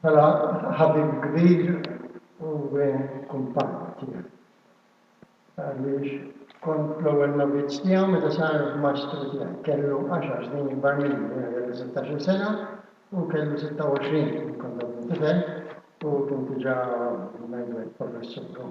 Bħala ħabib kbir u kumpann tiegħi. Għaliex kont l-ewwel novizz tiegħu meta sar mastru tiegħi. Kellu 10 snin ikbar minni, jiena kelli 16 sena u kellu 26 kont tifel u kien diġà ngħidu hekk professur.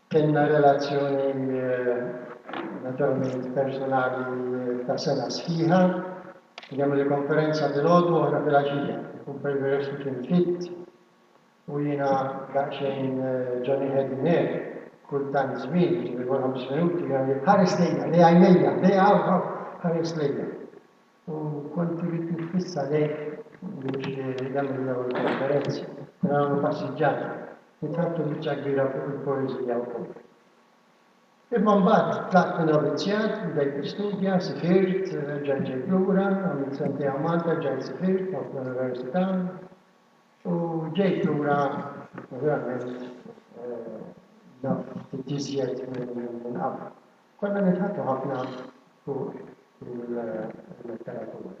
Kellna relazzjoni naturalment persunali ta' sena sħiħa. Kien hemm il-konferenza filgħodu u oħra filgħaxija. Kumpel Veresti kien fit u jiena daqsxejn ġoni ħedni hekk kull tant żmien, jiġifieri kull ħames minuti, jgħid, Ħares lejja, lejgħajnejja, lejgħa hawn, hawn, ħares lejja. U kont irrid nitfissa lejk biex nagħmel dawn il-konferenzi. Kien nagħmlu passiġġati. Kitbtu biċċa kbira fuq il-poeżija wkoll. Imma mbagħad tlaqt minn novizzjat, bdejt nistudja, sifirt, reġgħet ġejt lura, għamilt sentejn għal Malta, rġajt sifirt, mort l-università u ġejt lura naturalment naf ftit iżjed minn qabel. Konna nidħku ħafna fuq il-letteratura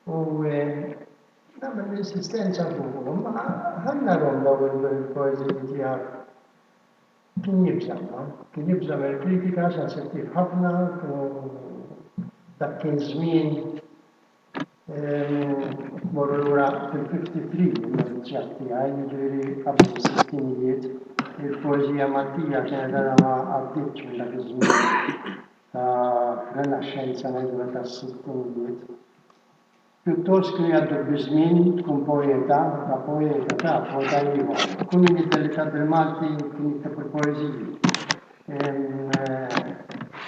u nagħmel l-insistenza fuqhom ma ħanna romba u l-poeżija tiegħek kien jibża' kien jibża' mill-kritika sensittiv ħafna u dak kien żmien Morru lura fil-53 in-negozjat tiegħi, jiġifieri qabel is-sittinijiet. Il-poeżija Maltija kienet għadha ma għaddietx minn dak iż-żmien ta' renaxxenza ngħidulha tas-sittinijiet. Pjuttost kienu jgħaddu biż-żmien tkun poeta, ta' poeta, ta' poeta ieħor. Kull min jiddelikat bil-Malti kien jikteb il-poeżiji.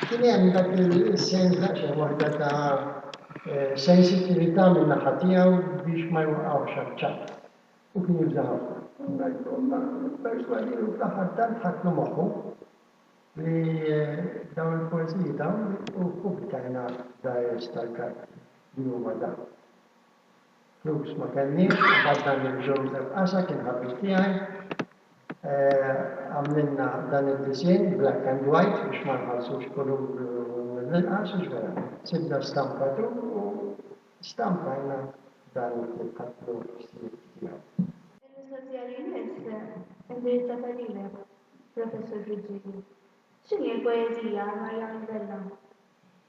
Kien hemm dak il-sens ta' xi waħda ta' sensittività min-naħa tiegħu biex ma jwaqqgħux għaċ-ċaħħ. Hu kien jibża' ħafna. Ngħidilkom ma pperswadieni u fl-aħħar tant ħadtlu moħħu li dawn il-poeżiji dawn u ppubblitajna Diaries tal-Kard li huma dawn. Flus ma kellniex, imbagħad dan lil Joseph Casa kien ħabib tiegħi, għamlilna dan id-disinn black and white biex ma nħallsux kulur mill-inqas u x'vera, sibna stampatur u stampajna dan il-ktieb ħadtlu ħsieb tiegħu. Il-mistoqsija li jmiss indirizzata lilek, Professur Giugini. X'inhi l-poeżija għal Marjana Vella?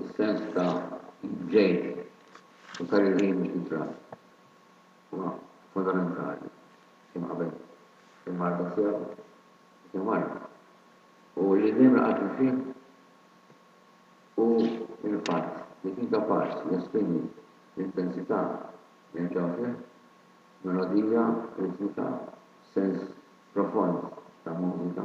is-sens ta' ġid u ta' riżin mhux intrat huwa fundamentali kemm qabel il-marda sew u fil marda u li dejjem laqatni fih hu l-fatt li kien kapaċi jesprimi l-intensità li hemm ġewwa fih, melodija, ritmika, sens profond ta' mużika.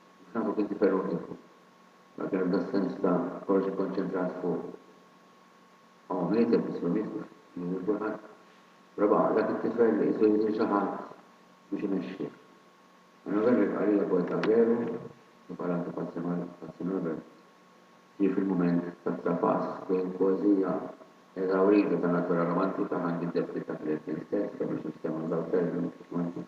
Nafek inti ferruħ ieħor. Mela kien hemm das-sens ta' kollox ikkonċentrat fuq Mama mietet, isma' miet, mhux jien lil kulħadd. Però baqa' dak it-tifel li qisu jrid lil xi ħadd biex imexxih. Għal November jibqa' lili wkoll ta' veru li bħala antipasti mal. Pazzi Norbert ġie fil-mument tat-trapass bejn poeżija eżawrita ta' natura romantika, ħanġi d-debti ta' Gretchen stess, kemm għax instema' żewġ termini romantiċi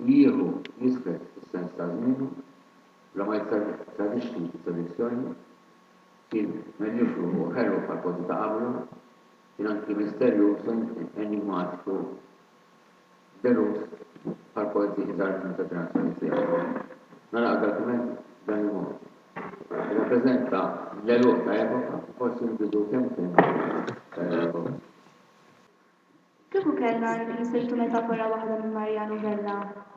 li jieħu jiżved is-sens ta' żmienu bla ma jittradixxi t-tradizzjoni, kien menjufru u ħelu bħall-poeti ta' qablu, kien anki misterjuż u enigmatiku deluż bħall-poeti iżgħar minnu tal-ġenerazzjoni tiegħu. Nagħlaq dal-kumment b'dan il-mod, irrappreżenta l-għeluq ta' epoka u forsi l-bidu kemmkemm ta' epoka. Kieku kellna nsiltu metafora waħda minn Mariano Vella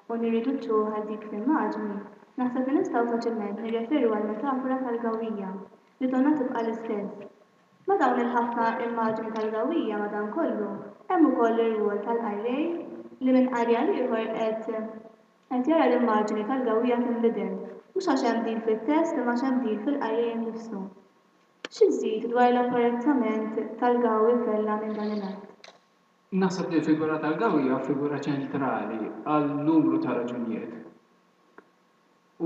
u nirriduċuha għal dik l-immaġni, naħseb li nistgħu faċilment nirreferu għall-metafora tal-gawwija, li donnha tibqa' l-istess. Ma' dawn il-ħafna immaġni tal-gawwija, madankollu, hemm ukoll ir-rwol tal-qari li minn qari għal ieħor qed qed jara l-immaġni tal-gawwija tinbidel, mhux għax hemm bdil fit-test imma għax hemm bdil fil-qari innifsu. Xi żżid dwar l-apparettament tal-gawi kellha minn dan il-att? Naħseb li l-figura tal-gawi hija figura ċentrali għal numru ta' raġunijiet.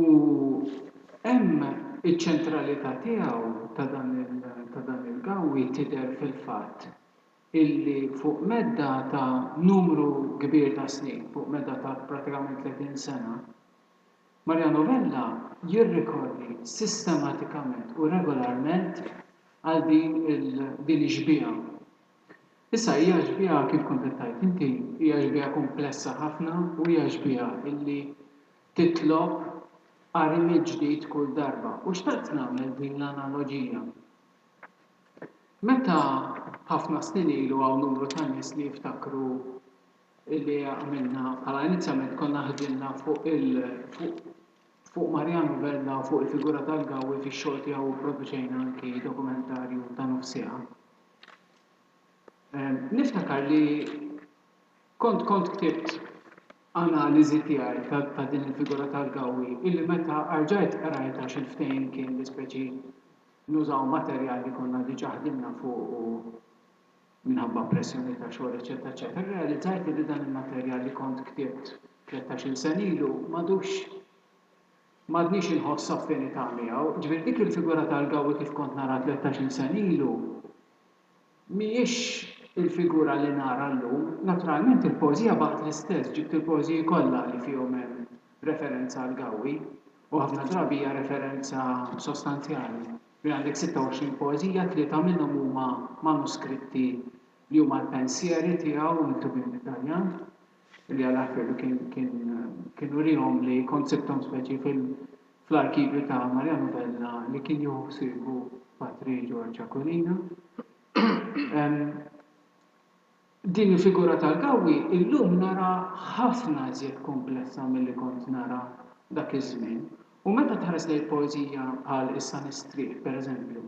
U hemm iċ-ċentralità tiegħu ta' dan ta' dan il-gawi tidher fil-fatt illi fuq medda ta' numru kbir ta' snin, fuq medda ta' prattikament 30 sena, Mariano Vella jirrikorri sistematikament u regolarment għal din din ix-xbieha. Issa hija xbieha kif kont qed tgħid inti, hija xbieha kumplessa ħafna u hija xbieha illi titlob qari mill-ġdid kull darba. U xtaqt nagħmel din l-analoġija. Meta ħafna snin ilu hawn numru ta' nies li jiftakru illi għamilna bħala inizjament konna ħdimna fuq il fuq fuq Mariano Vella u fuq il-figura tal-Gawi fix-xogħol tiegħu pproduċejna anki dokumentarju ta' nofs siegħa. Ehm, niftakar li kont kont ktibt analiżi tiegħi ta' din il-figura tal-gawi illi meta arġajt qrajt għax il-ftehim kien li speċi nużaw materjal li konna diġà ħdimna fuq u minħabba pressjonijiet ta' xogħol eċċetera eċċetera, irrealizzajt li dan il-materjal li kont ktibt tlettax-il sena ilu m'għadux m'għadnix inħoss affinità miegħu. Ġifieri dik il-figura tal-Gawi kif kont naraha tlettax-il sena ilu mhijiex il-figura li nara llum. Naturalment il-poeżija baqgħet l-istess, ġibt il-poeżiji kollha li fihom hemm referenza għall-Gawi u ħafna drabi hija referenza sostanzjali. Fejn għandek 26 poeżija, tlieta minnhom huma manuskritti li huma l-pensieri tiegħu miktubin bit-Taljan, li għal aħfiedu kien kien kien urihom li kont sibthom speċi fil fl-arkivju ta' Maria Novella li kien jieħu ħsiebu Patri George Aquilina. Din il-figura tal-Gawwi illum naraha ħafna iżjed kumplessa milli kont naraha dak iż-żmien u meta tħares lejn poeżija bħal Issa Nistrieħ pereżempju,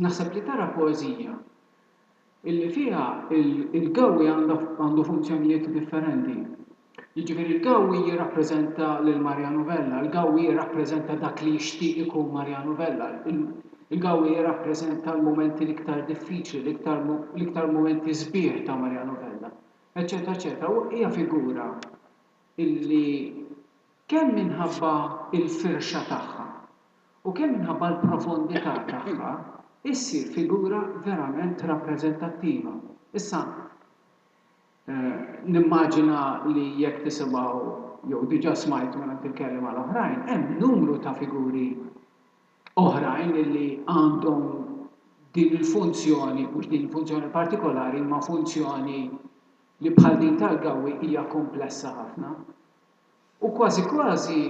naħseb li tara poeżija illi fiha l-Gawwi għandu funzjonijiet differenti. Jiġifieri l-Gawi jirrappreżenta lil Mariano Vella, il-Gawi jirrappreżenta dak li jixtieq ikun Mariano Vella, il-Gawi jirrappreżenta l-mumenti l-iktar diffiċli, l-iktar mumenti sbieħ ta' Mariano Vella, eċċetera eċċetera U hija figura li kemm minħabba l-firxa tagħha u kemm minħabba l-profondità tagħha issir figura verament rappreżentattiva. Issa, Nimmaġina li jekk tisimgħu jew diġà smajtu mingħand il-kelliema l-oħrajn, hemm numru ta' figuri oħrajn li għandhom din il-funzjoni, mhux din il-funzjoni partikolari, imma funzjoni li bħal din tal-gawwi hija kumplessa ħafna. U kważi kważi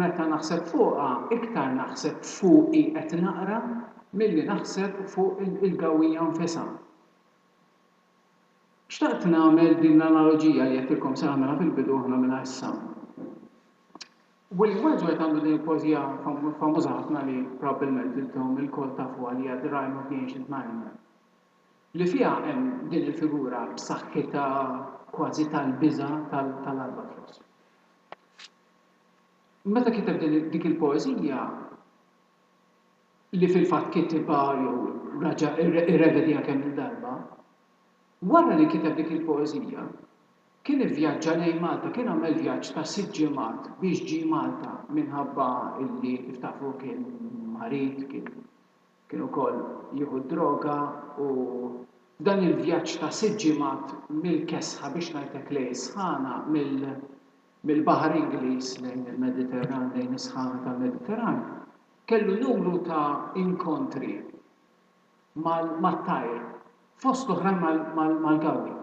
meta naħseb fuqha, iktar naħseb fuqi qed naqra milli naħseb fuq il-gawwija nfisha. Xtaqt nagħmel din l-analoġija li għedtilkom se nagħmilha fil-bidu aħna mela issa. William Wordsworth għandu din il-poeżija famuża ħafna li probabbilment intom ilkoll tafuha li hija The Rime of the Ancient Mariner li fiha hemm din il-figura b'saħħitha kważi tal-biża' tal-albatros. Meta kiteb dik il-poeżija, li fil-fatt kitibha jew raġa' irrevedieha kemm-il darba, wara li kiteb dik il-poeżija, kien ivvjaġġa lejn Malta, kien għamel vjaġġ ta' sitt ġimgħat biex ġie Malta minħabba li kif tafu kien marid, kien ukoll jieħu d-droga u f'dan il-vjaġġ ta' sitt ġimgħat mill-kesħa biex ngħidlek lejn is-sħana, mill-Baħar Ingliż lejn il-Mediterran, lejn is-sħana tal-Mediterran, Kellu numru ta' inkontri mat-tajr, fost l-oħrajn mal-gawri.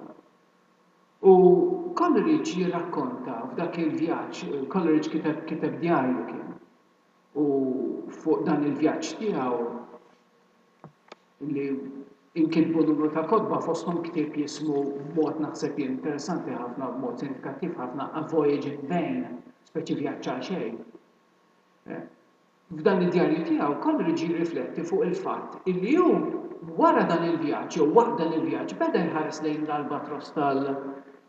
U Coleridge jirrakkonta f'dak il-vjaġġ, Coleridge kiteb kiteb djarju kien, u fuq dan il-vjaġġ tiegħu li nkitbu numru ta' kotba fosthom ktieb jismu b'mod naħseb jien interessanti ħafna u b'mod sinifikattiv ħafna A Voyage in Vain, speċi vjaġġ għalxejn. F'dan id-djarju tiegħu, Coleridge jirrifletti fuq il-fatt illi hu wara dan il-vjaġġ jew waqt dan il-vjaġġ beda jħares lejn l-albatross tal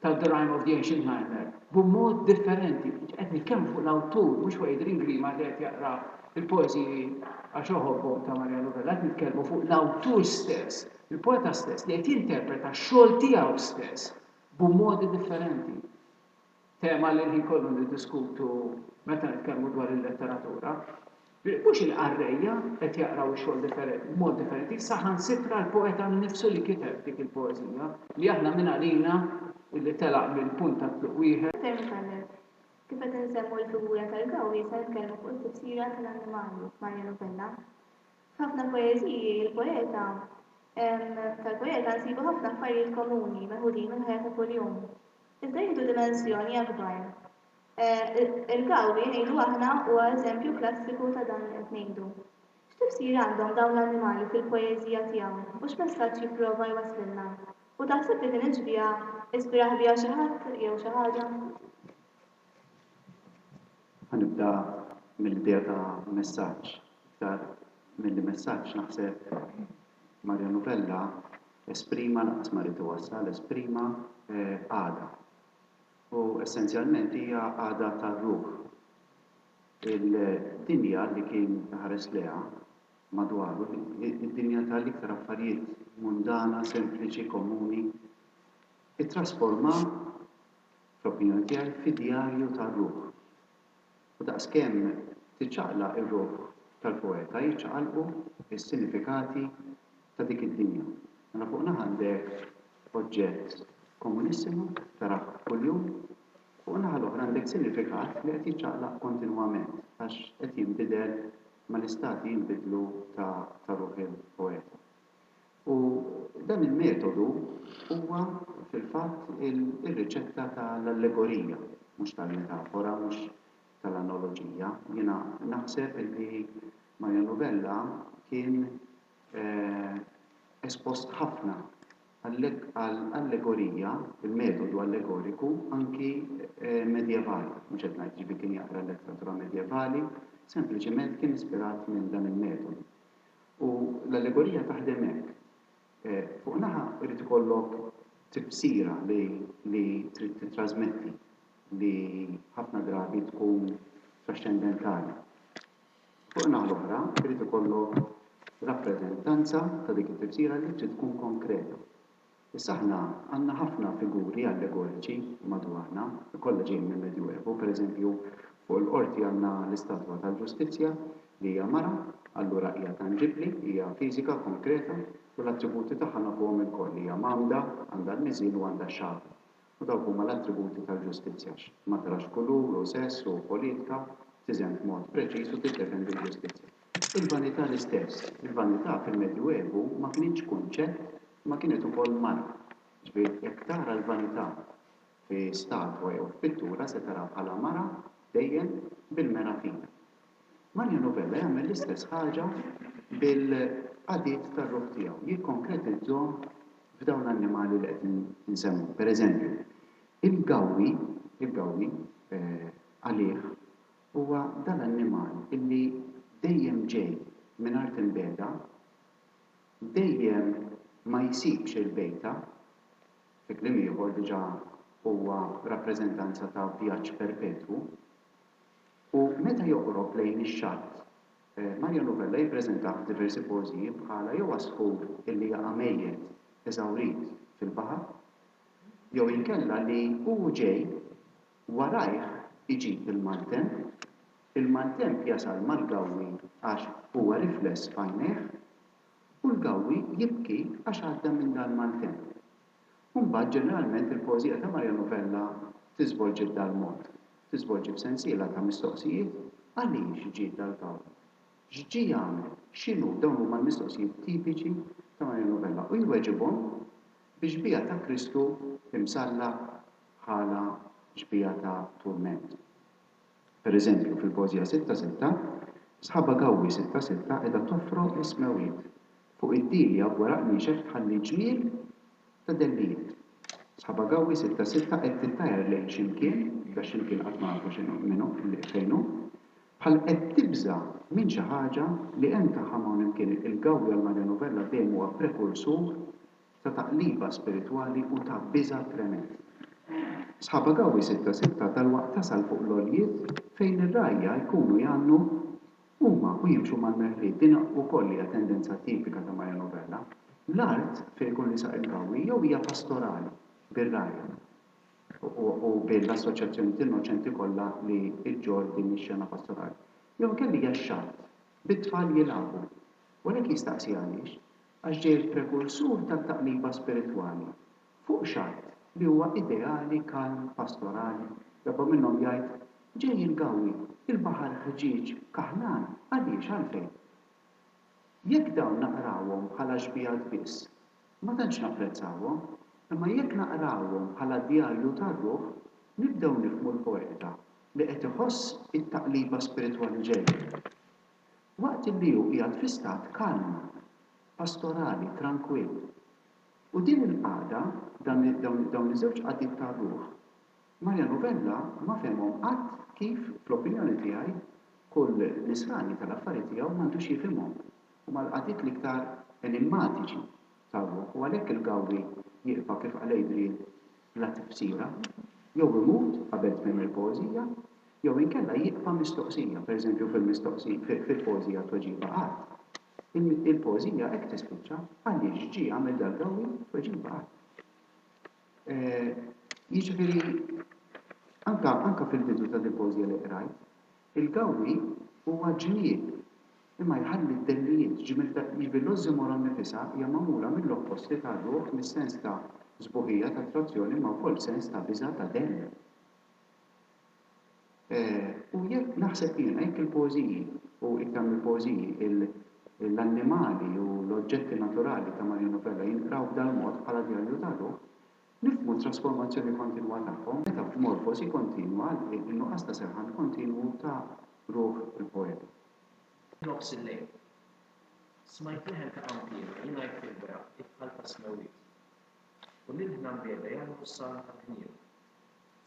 ta' The Rime of the Ancient Mariner b'mod differenti. Qed nitkellmu fuq l-awtur, mhux fuq Adrian Grima li qed jaqra l-poeżiji għax iħobbhom ta' Mariano Vella, qed nitkellmu fuq l-awtur stess, il-poeta stess li qed jinterpreta x-xogħol tiegħu stess b'modi differenti. tema li l-ħin kollu niddiskutu meta nitkellmu dwar il-letteratura, li mhux il-qarrejja qed jaqraw ix-xogħol differenti, b'mod differenti, saħansitra l-poeta nnifsu li kiteb dik il-poeżija, li aħna minn għalina li telaq minn punt ta' tluq wieħed. Aktar minn hekk, kif qed insemmu l-figura tal-gawri, se nitkellmu fuq it-tifsira tal-annimali f'Mariano Vella. F'ħafna poeżiji l-poeta, tal-poeta nsibu ħafna affarijiet komuni meħudin mill-ħajja ta' kuljum, iżda jieħdu dimensjoni akbar. Il-gawri, ngħidu aħna, huwa eżempju klassiku ta' dan li qed ngħidu. X'tifsira għandhom dawn l-annimali fil-poeżija tiegħu u x'messaġġ jipprova jwasslilna? U taħseb li din it-xbieha ispirah biha xi ħadd jew xi ħaġa? Ħa nibda mill-idea ta' messaġġ. Iktar milli messaġġ naħseb Mario Novella esprima lanqas ma ried iwassal, esprima qagħda. U essenzjalment hija qagħda tar-ruħ. Il-dinja li kien iħares lejha madwaru, id-dinja ta' l-iktar affarijiet mundana, sempliċi, komuni, ittrasforma fl-opinjoni tiegħi, fid-djarju tar-ruħ. U daqskemm tiċċaqlaq ir-ruħ tal-poeta, jiċċaqalqu s-sinifikati ta' dik id-dinja. Mela fuq naħa għandek oġġett komunissimu, tarah kuljum, fuq in-naħa l-oħra għandek sinifikat li qed jiċċaqlaq kontinwament għax qed jinbidel mal-istati jinbidlu ta' ruħ il-poeta. U dan il-metodu huwa fil-fatt ir-riċetta ta' l-allegorija, mhux tal-metafora, mhux ta' l-analoġija. Jiena naħseb illi Mario Novella kien espost ħafna għal allegorija, il-metodu allegoriku, anki medjevali, mhux qed ngħid jiġifieri kien jaqra l-letteratura medjevali, sempliċement kien ispirat minn dan il-metodu. U l-allegorija taħdem hekk, fuq naħa jrid ikollok tifsira li trid tittrasmetti li ħafna drabi tkun traxxendentali. Fuq in-naħa l-oħra jrid ikollok rappreżentanza ta' dik it-tifsira li trid tkun konkreta. Issa aħna għandna ħafna figuri allegoriċi madwarna, kollha ġejjin mill-Medjuevu, pereżempju, fuq il-qorti għandna l-istatwa tal-Ġustizzja, li hija mara, allura hija tanġibbli, hija fiżika, konkreta, u l-attributi tagħha nafuhom ilkoll, hija mgħammda, għandha l-miżien u għandha x-xagħar. U dawk huma l-attributi tal-ġustizzja, x, ma tarax kulur u sess u politka, tiżen b'mod preċiż u tiddefendi l-ġustizzja. Il-vanità l-istess, il-vanità fil-Medju Evu ma kinitx kunċett imma kienet ukoll marka. Ġifieri jekk tara l-vanità fi statwa jew f'pittura se taraha bħala mara dejjem bil-mera fina. Mario Novella jagħmel l-istess ħaġa bil-qagħdiet tar-ruħ tiegħu, jikkonkretizzhom f'dawn l-annimali li qed insemmu. Per eżempju, il-gawwi, il-gawwi, għalih, huwa dal-annimal illi dejjem ġej minn art imbiegħda, dejjem ma jsibx il-bejta, fi kliem ieħor diġà huwa rappreżentanza ta' vjaġġ perpetwu. U meta joqrob lejn ix-xatt, Mario Novella jippreżentah f'diversi pożijiet bħala jew għasfur illi jaqa' mejjet eżawrit fil-baħar, jew inkella li hu ġej, warajh iġib il-maltemp, il-maltemp jasal mal-gawwi għax huwa rifless f'għajnejh, u l-gawwi jibki għax għadda minn dal-maltemp. U mbagħad ġeneralment il-poeżija ta' Mariano Vella tiżvolġi b'dal mod, tiżvolġi b'sensiela ta' mistoqsijiet, Għaliex ġie dal-kaw? X'ġie jagħmel? X'inhu? Dawn huma l-mistoqsijiet tipiċi ta' Mariano Vella u jweġibhom bi xbieha ta' Kristu imsallab bħala xbieha ta' turment. Per eżempju, fil-poeżija Sitta Sitta, Sħaba Gawwi Sitta Sitta qiegħda tofrog is-smewwiet. Fuq id-dili hawn waraq niexef tħalli ġmiel ta' dellijiet. Sħaba Gawwi Sitta Sitta qed tittajar lejn xi mkien, da xi mkien qatt ma nafu x'inhu, minhu, fejn hu, bħal qed tibża' minn xi ħaġa li hemm tagħha m'hawn hemm kien. Il-Gawwi għall-Maria Novella dejjem huwa prekursur ta' taqliba spiritwali u ta' biża' tremend. Sħaba Gawi sitta sitta dalwaqt tasal fuq l-għoljiet fejn ir-rgħajja jkunu jgħannu huma u jimxu mal-merħliet, din ukoll hija tendenza tipika ta' Mario Novella. L-art fejn ikun risaq il-Gawi jew hija pastorali bir-rgħajja u bil-assoċjazzjonijiet innoċenti kollha li ġġorr din ix-xena pastorali, jew inkella hija x-xatt bit-tfal jilagħbu. U għalhekk jistaqsi għaliex? Għax ġej il-prekursur tat-taqliba spiritwali. Fuq xatt li huwa ideali, kalm, pastorali, darba minnhom jgħid, Ġej il-gawwi, il-baħar ħġieġ, kaħlan, għaliex, għalfejn? Jekk dawn naqrawhom bħala xbigħat biss, ma tantx napprezzawhom, imma jekk naqrawhom bħala djarju tar-ruħ, nibdew nifhmu l-poeta li qed iħoss it-taqliba spiritwali ġejja. waqt li hu qiegħed fi stat kalm, pastorali, trankwill. U din il-qagħda, dawn iż-żewġ qagħdiet tar-ruħ, Mario Novella ma fehemhom qatt kif, fl-opinjoni tiegħi, kull nisrani tal-affari tiegħu m'għandux jifhimhom. Huma l-qagħdiet l-iktar enimmatiċi tar-ruħ u għalhekk il-Gawri jiqfa' kif qal Adrian, bla tifsira, jew imut qabel tmiem il-poeżija, jew inkella jibqa' mistoqsija, pereżempju fil-poeżija Tweġiba Qatt, il-poeżija hekk tispiċċa, Għaliex ġie għamel dal-gawwi? Tweġiba qatt. Jiġifieri, anke fil-bidu ta' dil-poeżija li qrajt, il-gawwi huwa ġmiel. Imma jħalli d-dellijiet, ġifieri l-ossimoron nnifisha hija magħmula mill-opposti tar-ruħ, mis-sens ta' sbuħija, ta' attrazzjoni, imma wkoll sens ta' biża', ta' dell. U jekk, naħseb jiena, jekk il-poeżiji, u iktar mill-poeżiji, l-annimali u l-oġġetti naturali ta' Maria Novella jinqraw b'dal-mod, bħala djarju tar-ruħ, nifhmu t-trasformazzjoni kontinwa tagħhom, meta f'morfosi kontinwa, in-nuqqas ta' serħan kontinwu ta' ruħ il-poeta. f'nofs il-lejl. Smajt leħen ta' qanpiena jingħid fil-beraħ kif bħal ta' smewwiet. U lil ħna mbiegħda jagħmlu s-salm tal-ħniena.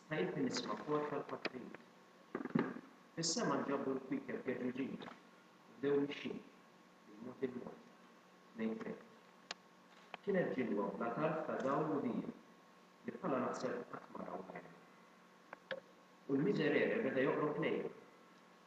Stajtni nisma' kor tal-patrijiet. Fis-sema nġabru l-kwiekeb geġuġin u bdew mixjin, il-mod il-mod, lejn Kreta. Kienet ġilwa bla tarf ta' dawl u dija, li bħalha naħseb qatt ma rawha għajnejn. U l-miserere beda joqrob lejna.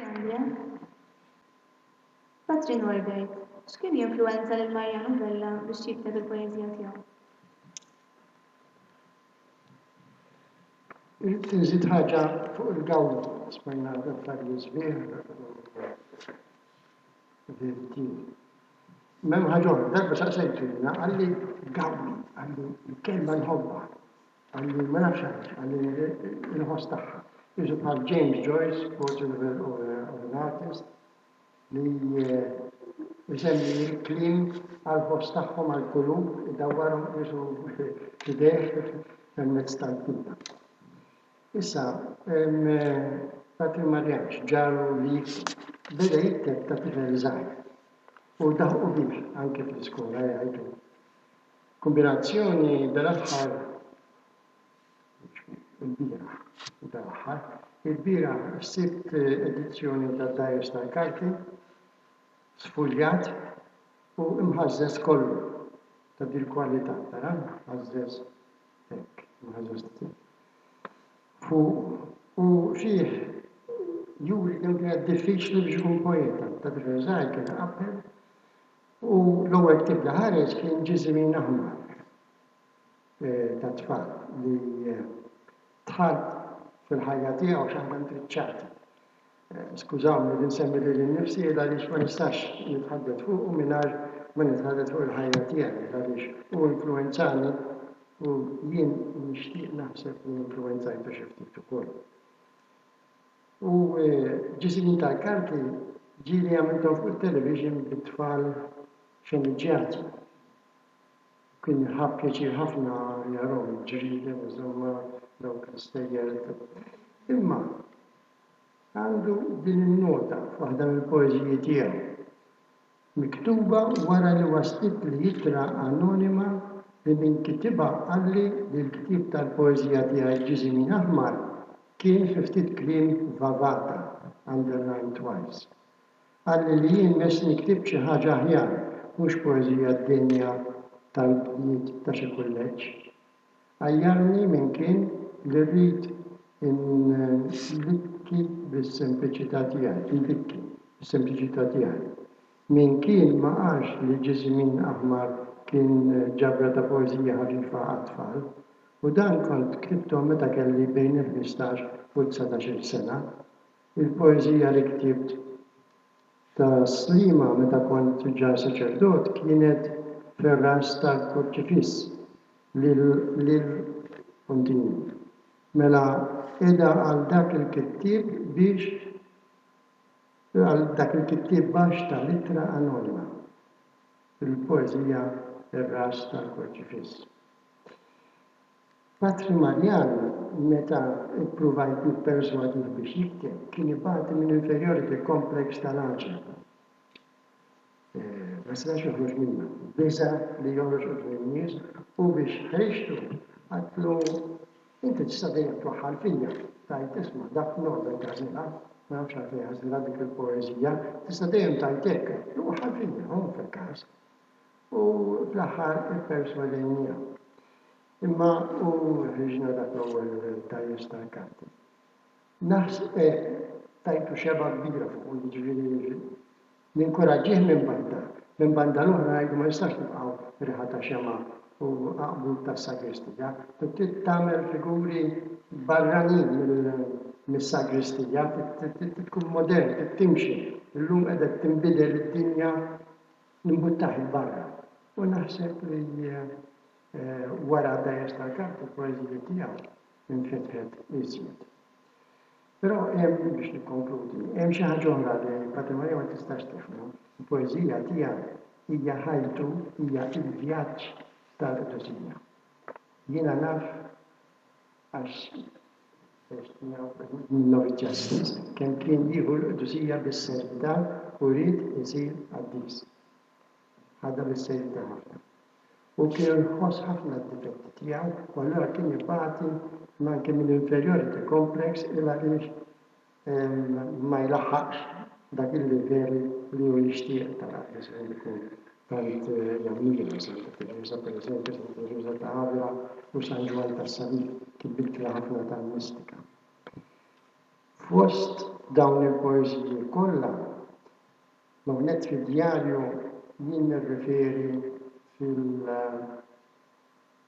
Ġudizzjarja. Patri Norbert, x'kien jinfluwenza lil Mariano Vella biex jikteb il-poeżija tiegħu? Inżid ħaġa fuq il-gawda, smajna dettalji sbieħ u veritieri. M'hemm ħaġa oħra, darba saqsejtu jiena, qalli gawdi, qalli l-kelma nħobbha. Qalli, ma nafx għaliex, qalli inħoss tagħha. Qisu bħal James Joyce, portrait of an, of a, of an artist, li jsemmi l-kliem għall-ħoss tagħhom għall-kulur, idawwarhom qisu f'idejh permezz tal-kitba. Issa, Patrick Marianx ġaru li jikteb. Beda jikteb ta' tifel żgħir u daħqu bih anke fl-iskola jgħid hu. Kombinazzjoni dal-aħħar il-bieraħ u dal-aħħar il-bieraħ sibt edizzjoni tad-Dajers tal-Karti sfuljat u mħażżeż kollu ta' dil-kwalità, tara, mħażżeż hekk, mħażżeż fuq u fih juri kemm kienet diffiċli biex ikun poeta, ta' tifel żgħir kien iqabbel U l-ewwel ktieb li ħareġ kien Ġiżimin Aħmar tat-tfal li dħal fil-ħajja tiegħu xi ħaġa ntriċċata. Skużawni li nsemmi lili nnifsi il għaliex ma nistax nitħaddet fuqu mingħajr ma nitħaddet fuq il-ħajja tiegħi il għaliex hu influwenzani u jien nixtieq naħseb li influwenzajtu xi ftit ukoll. U ġie żmien tal-kanti, ġieli għamilthom fuq it-television bi tfal xeniġġjati. U kien ħa pjaċir ħafna jarahom il-ġrieden, insomma, dawk l-istejjer. Imma għandu din in-nota f'waħda mill-poeżiji tiegħu. Miktuba wara li waslitli ittra anonima li min kitibha qalli li l-ktieb tal-poeżija tiegħi Ġiżimin Aħmar kien fi ftit kliem vavata, underlined twice. Qalli li jien messni ktibt xi ħaġa aħjar, mhux poeżija d-denja tal-bniet ta' xi kulleġġ. Għajjarni min kien li rrid indikki bis-sempliċità tiegħi. Min kien ma qalx li Ġiżmin Aħmar kien ġabra ta' poeżija ħafifa għat-tfal, u dan kont ktibthom meta kelli bejn il-ħmistax u t-dsatax-il sena. Il-poeżija li ktibt ta' Sliema meta kont ġa saċerdot kienet fir-ras tal-kurċifiss li l. Continue. Mela eda għal dak il-kittieb biex għal dak il-kittieb baxx ta' l-ittra anonima fil-poeżija Ir-Ras tal-Kurċifiss. Patri Marjan, meta ppruvajt nipperswadih biex jikteb, kien ibati minn inferiority complex tal-għaġeb, ma setax joħroġ minnha, biża' li joħroġ quddiem in-nies u biex ħriġtu qaltlu, Inti tista' dejjem twaħħal fija, tgħid, Isma', dak Nobel għażilha, ma nafx għalfejn għażilha dik il-poeżija, tista' dejjem tgħid hekk, waħħal fija, hu fil-każ. U fl-aħħar ipperswadejniha. Imma hu ħriġna dak l-ewwel tajjis tal-karti. Naħs e tajtu xebgħa kbira fuqu jiġifieri ninkuraġġih minn banda. Minn banda l-oħra ngħidu ma jistax tibqgħu riħa ta' xemgħa u għaqbub tas-sagristija. Trid tagħmel figuri barranin mis-sagristija, trid tkun modern, trid timxi. Illum qegħdet tinbidel id-dinja Nimbuttah 'il barra u naħseb li wara d-dgħajjes tal-Kalb il-poeżija tiegħu infetħet iżjed. Però hemm, biex nikkonkludi, hemm xi ħaġa oħra li Patrimonio ma tistax tifhmu, il-poeżija tiegħu hija ħajtu, hija l-vjaġġ tal-qdusija. Jiena naf Għax għex tiegħu qrib minnhom iġġassis kemm kien jieħu l-qdusija bis-serjetà u ried isir qaddis. Ħadha bis-serjetà ħafna. Hu kien iħoss ħafna d-difetti tiegħu u allura kien ibati m'anki minn inferiority complex il-għaliex ma jlaħħaqx dak il-livell li hu jixtieq ta' dak li se jkun tant jammira Santa Tereża, pereżempju Santa Tereża ta' Avila u San Ġwann tas-Salib, kien bikri ħafna tal-mistika. Fost dawn il-poeżiji kollha, hawnhekk fid-djarju jien nirreferi fil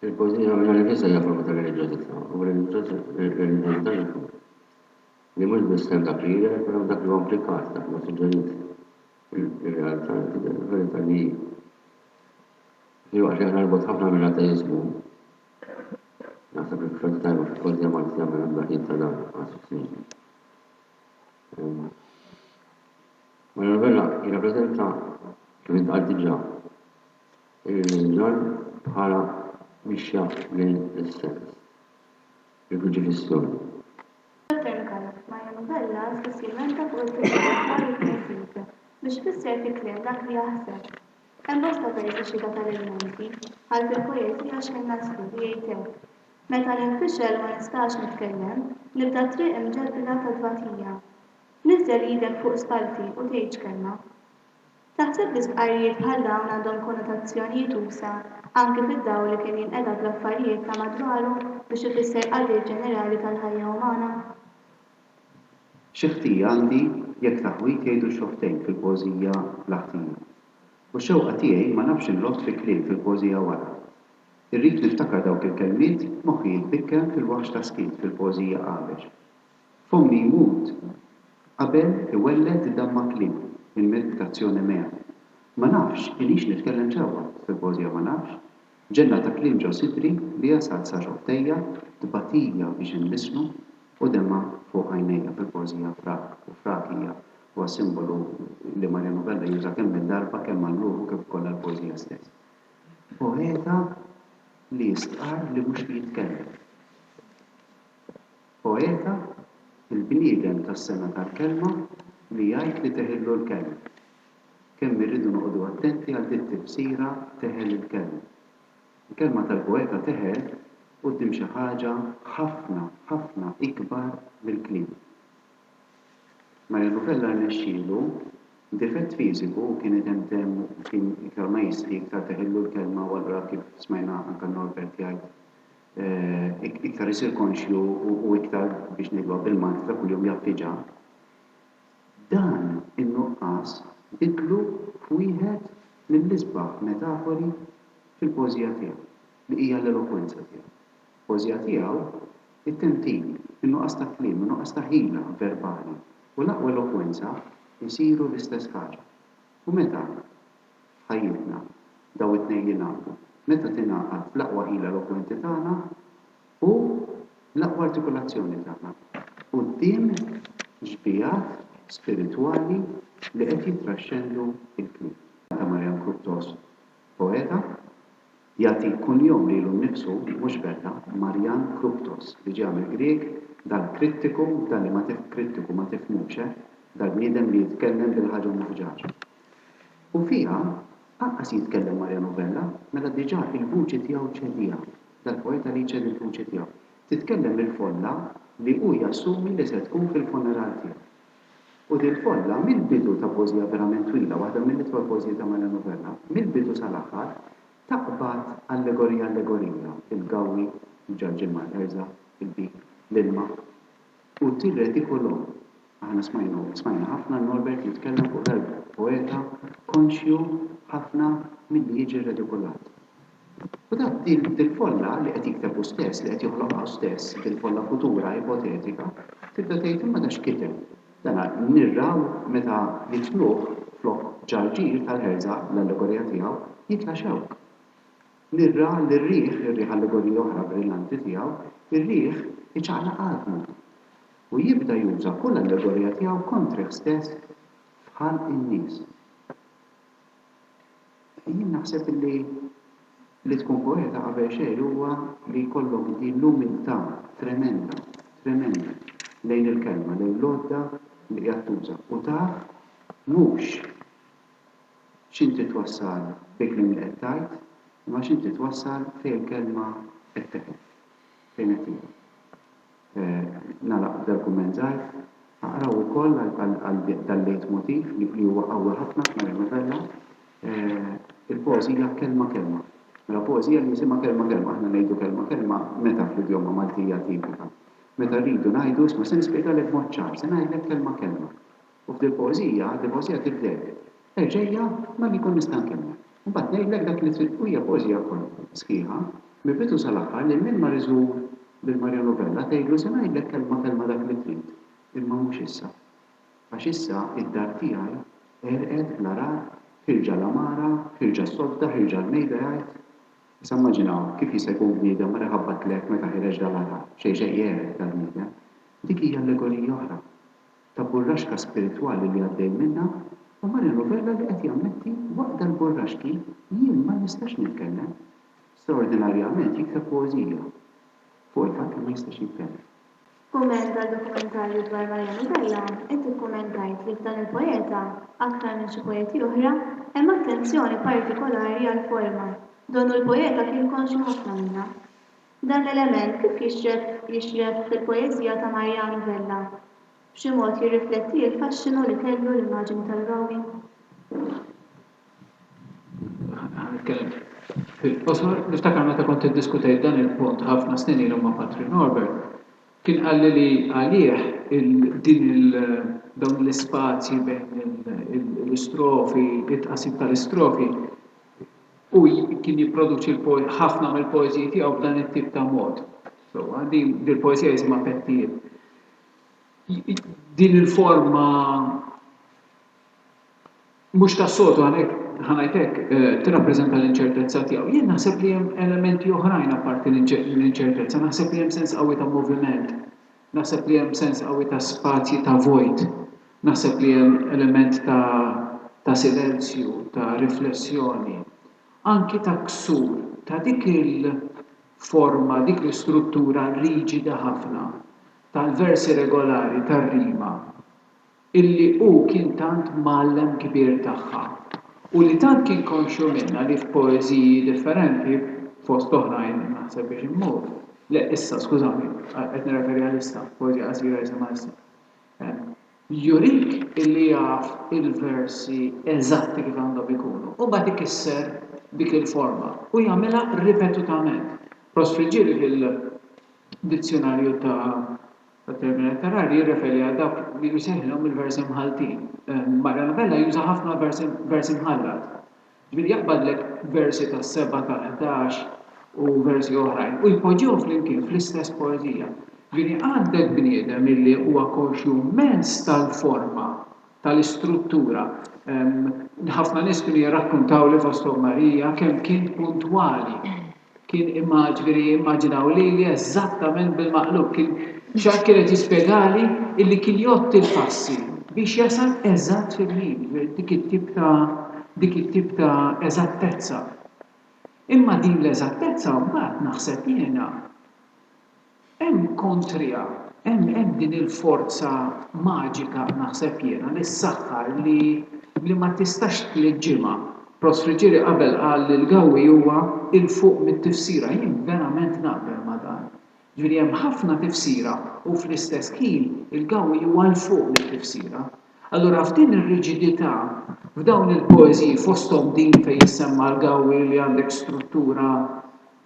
Il-poeżija mingħajr il-biża' hija forma ta' reliġjożità, u reliġjożità hi tkun li mhux biss hemm dak li jidher iżda hemm dak li huwa implikat, dak li huwa suġġerit. Ir-realtà li tidher fil-verità li hi. Filwaqt li aħna l-bogħod ħafna mill-ateiżmu, naħseb li f'xorta tajba fil-poeżija Maltija ma hemm ebda ħin ta' dan, anzi f'snidi. Mario Novella jirrappreżenta, kif intqal diġà, Ir-Ringan bħala mixja lejn l-essens, il-Kruċifissjoni. Sakemm Mario Novella spiss jilmenta fuq il-kriminalità u t-tnisib biex ifisser fi kliem dak li jaħseb. Hemm bosta versi xhieda tal-ilmenti, bħal fil-poeżija X'ħin Naslu li jgħid hekk, Meta ninfixel ma nistax nitkellem, nibda t-triq imġebbla ta' tbatija. Niżżel idek fuq spallti u tgħidx kelma. Taħseb li stqarrijiet bħal dawn għandhom konnotazzjonijiet usa' anki fid-dawl li kien jinqeda bl-affarijiet ta' madwaru biex ifisser qagħdiet ġenerali tal-ħajja umana? Xi ħtija għandi jekk taħwid jgħidu xortejn fil-poeżija bla ħtija. U x-xewqa tiegħi ma nafx inrodd fi kliem fil-poeżija wara. Irrid niftakar dawk il-kelmiet moħħi jitbikkem fil-waħx ta' skiet fil-poeżija qabex. F'ommi jmut qabel iwelled damma kliem minn milk ta' Zione mea. Ma nafx inix nitkellem sewwa, Symposia ma nafx, ġenna ta' kliem ġo sidri li jasal sa ġo ħdejja, tbatija biex inbissmu, u demgħa fuq għajnejja Fil-poeżija frak u frak hija huwa simbolu li Mariano Vella juża kemm minn darba kemm għal ruħu kif ukoll għal poeżija stess. Poeta li jistqarr li mhux li jitkellem. Poeta, il-bniedem tas-sengħa tal-kelma li jgħid li teħillu l-kelma. Kemm irridu noqogħdu attenti għal di t-tifsira teħel il-kelma. Il-kelma tal-poeta teħel quddiem xi ħaġa ħafna, ħafna ikbar mill-kliem. Mario Novella rnexxielu, b'difett fiżiku, kien idem demm u kien iktar ma jistħi iktar teħillu l-kelma u allura kif smajna anke Norbert jgħid, iktar isir konxju u iktar, biex ngħiduha bil-Malti ta' kuljum, jaffiġa, dan in-nuqqas biddlu f'wieħed mill-isbaħ metafori fil-poeżija tiegħu, li hija l-elokwenza tiegħu. F'poeżija tiegħu, it-tentin, in-nuqqas ta' kliem, in-nuqqas ta' ħila verbali u l-aqwa elokwenza jsiru l-istess ħaġa. U meta, f'ħajjitna, dawn it-tnejn jingħaqdu? Meta tingħaqad l-aqwa ħila elokwenti tagħna u l-aqwa artikulazzjoni tagħna quddiem xbigħat spiritwali li qed jittraxxendu l-kliem. Ta' Marian Kruptos, poeta. Jagħti kunjom lilu nnifsu, mhux Bella, Marjan Kruptos, li ġie għamel Grieg, dan krittiku, dan li ma tif, krittiku, ma tifhmux, eh, dal-bniedem li jitkellem bil-ħaġa muħġaġa. U fiha, anqas jitkellem Marjan u Bella, mela diġà il-vuċi tiegħu ċediha, dal-poeta li jċedi l-vuċi tiegħu, titkellem il-folla li hu jassumi li se tkun fil-funeral tiegħu. U din kollha mill-bidu ta' poeżija verament twila, waħda mill-itwal poeżiji ta' Milo Novella, mill-bidu sal-aħħar, taqbad allegorija allegorija, il-gawwi, il-ġarġiel mal-ħerża, il-bib, l-ilma, u tirredi kolonn. Aħna smajnu, smajna ħafna Norbert jitkellem fuq dal-poeta konxju ħafna milli jiġi redikolat. U ta' dil-folla li qed jikteb hu stess, li qed joħloqha hu stess, dil-folla futura, ipotetika, tibda tgħid, imma dan x'kiteb? Dana nirraw meta jitfluh flok ġarġir tal-ħerża, l-allegorija tiegħu, jitla' xewk. Nirra lir-riħ, ir-riħ allegorija oħra brillanti tiegħu, ir-riħ iċaqlaq għadmu. U jibda juża kull allegorija tiegħu kontrih stess f'ħalq in-nies. Jien naħseb li li tkun poeta qabel xejn huwa li jkollok din l-umiltà tremenda, tremenda lejn il-kelma, lejn l-għodda li qiegħed tuża u taf mhux x'inti twassal bil-kliem li qed tgħid imma x'inti twassal fejn il-kelma qed teqef, fejn qed tieqaf. Nagħlaq b'dan kumment żgħir, aqraw ukoll għal dal-leitmotiv li huwa qawwi ħafna f'Maria Novella, il-poeżija kelma kelma. Mela poeżija li jisimha kelma kelma, aħna ngħidu kelma kelma meta fl-idjoma Maltija tipika? Meta rridu ngħidu isma' se nispjegalek b'mod ċar, se ngħidlek kelma kelma. U f'dil poeżija, għad il-poeżija tibdel. Erġajja malli jkun nista' nkemmel. Imbagħad ngħidlek dak li trid u hija poeżija kollha, sħiħa, mill-bidu sal-aħħar lil min mar iżur lil Mario Novella tgħidlu se ngħidlek kelma kelma dak li trid, imma mhux issa. Għax issa id-dar tiegħi għerqet bl-għargħar, ħierġa l-għamara, ħierġa s-sodda, ħierġa l-mejda jgħid. Issa immaġinaw kif jista' jkun bniedem mar iħabbatlek meta ħireġ dal-għargħar, xejn xejn jegħref dal-bniedem. Dik hija allegorija oħra. ta' burraxka spiritwali li għaddej minnha u Marino Vella li qed jammetti waqt dal-burraxki jien ma nistax nitkellem. Straordinarjament jikteb poeżija fuq il-fatt li ma jistax jitkellem. F'kumment għal dokumentarju dwar Mariano Vella, inti kkumentajt li f'dan il-poeta, aktar minn xi poeti oħra, hemm attenzjoni partikolari għall-forma, donnu l-poeta kien konxju ħafna minnha. Dan l-element kif jixref jixref fil-poeżija ta' Mariano Vella? B'xi mod jirrifletti l-faxxinu li kellu l-immaġini tal-Romi? Ħa nitkellem fil-qosor. Niftakar meta kont iddiskutejt dan il-punt ħafna snin ilu ma' Patri Norbert, kien qalli li għalih din il dawn l-ispazji bejn l-istrofi, it-tqassim tal-istrofi, Hu kien jipproduċi ħafna mill-poeżiji tiegħu b'dan it-tip ta' mod. Sewwa, din il-poeżija jisimha Pettijiet. Din il-forma mhux tas-soltu għalhekk ħanajt hekk eh, tirrappreżenta l-inċertezza tiegħu. Jien naħseb li hemm elementi oħrajn apparti l-inċertezza, naħseb li hemm sens qawwi ta' moviment. Naħseb li hemm sens qawwi ta' spazji ta' vojt. Naħseb li hemm element ta' ta' silenzju, ta' riflessjoni, anki ta' ksur ta' dik il-forma, dik l-istruttura riġida ħafna tal-versi regolari tar-rima. illi hu kien tant mgħallem kbir tagħha u li tant kien konxju minnha li f'poeżiji differenti, fost oħrajn Naħseb biex immut, le, issa, skużawni, qed nirreferi għal issa, poeżija qasira jisimha Issa, jurik illi jaf il-versi eżatti kif għandhom ikunu u mbagħad ikisser dik il-forma u jagħmilha ripetutament. Prost Friggieri fil-Dizzjunarju ta'. F'termini aktar agħar, jirreferi għal dawk li jseħħlhom il-versi mħalltin. Marja Novella juża ħafna versi versi mħallat. Ġifieri jaqbadlek versi tas-seba' tal-ħdax u versi oħrajn u jpoġġihom flimkien fl-istess poeżija. Ġifieri għandek bniedem illi huwa konxju mmens tal-forma, tal-istruttura. Ħafna nies kienu jirrakkuntawli fosthom Marija kemm kien puntwali. Kien immaġviri, immaġinaw lili eżattament bil-maqlub. Kien xatt kien qed jispjegali illi kien jgħodd il-passi biex jasal eżatt fil-ħin, dik it-tip ta' dik it-tip ta' eżattezza. Imma din l-eżattezza mbagħad naħseb jiena. Hemm kontriha, hemm hemm din il-forza maġika naħseb jiena li ssaħħar li li ma tistax tliġġimha. Prost Friggieri qabel qal li l-Gawwi huwa 'il fuq mit-tifsira, jien verament naqbel ma' dan. Ġifieri hemm ħafna tifsira u fl-istess ħin il-Gawwi huwa 'l fuq mit-tifsira. Allura f'din ir-riġidità, f'dawn il-poeżiji fosthom din fejn jissemma l-Gawwi li għandek struttura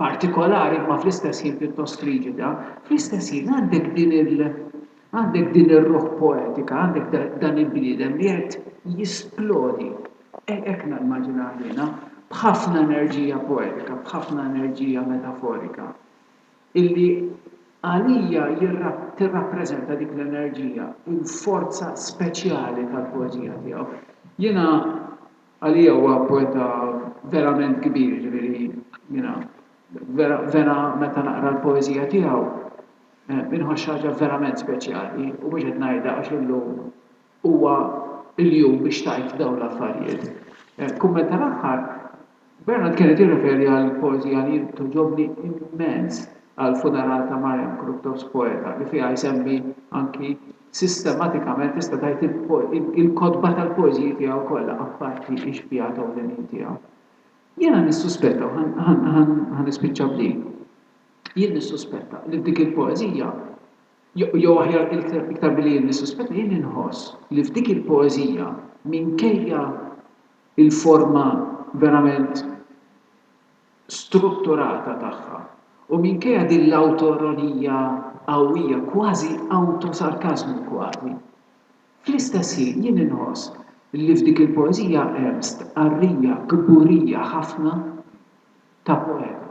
partikolari imma fl-istess ħin pjuttost riġida, fl-istess ħin għandek din il għandek din ir-ruħ poetika, għandek dan il-bniedem li qed jisplodi, hekk nimmaġinah jiena, b'ħafna enerġija poetika, b'ħafna enerġija metaforika. illi għalija tirrappreżenta dik l-enerġija u l-forza speċjali tal-poeżija tiegħu. Jiena għalija huwa poeta verament kbir, jiġifieri jiena vera vera meta naqra l-poeżija tiegħu inħoss xi ħaġa verament speċjali u mhux qed ngħidha għax illum huwa l-jum biex tgħid dawn l-affarijiet. Kumment tal-aħħar, Bernard kien qed jirreferi għall-poeżija li jien togħġobni immens għall-funeral ta' Marian Kruttos Poeta, li fiha jsemmi anki sistematikament tista' tgħid il-kotba tal-poeżiji tiegħu kollha, apparti x-xbiehat ewlenin tiegħu. Jiena nissuspetta, u ħa nispiċċa b'din, jien nissuspetta li f'dik il-poeżija Jew aħjar iktar billi jien nissuspetta, jien inħoss li f'dik il-poeżija, minkejja l-forma verament strutturata tagħha u minkejja din l-awtoironija qawwija, kważi awtosarkażmu kważi, fl-istess ħin jien inħoss li f'dik il-poeżija hemm stqarrija kburija ħafna ta' poeta.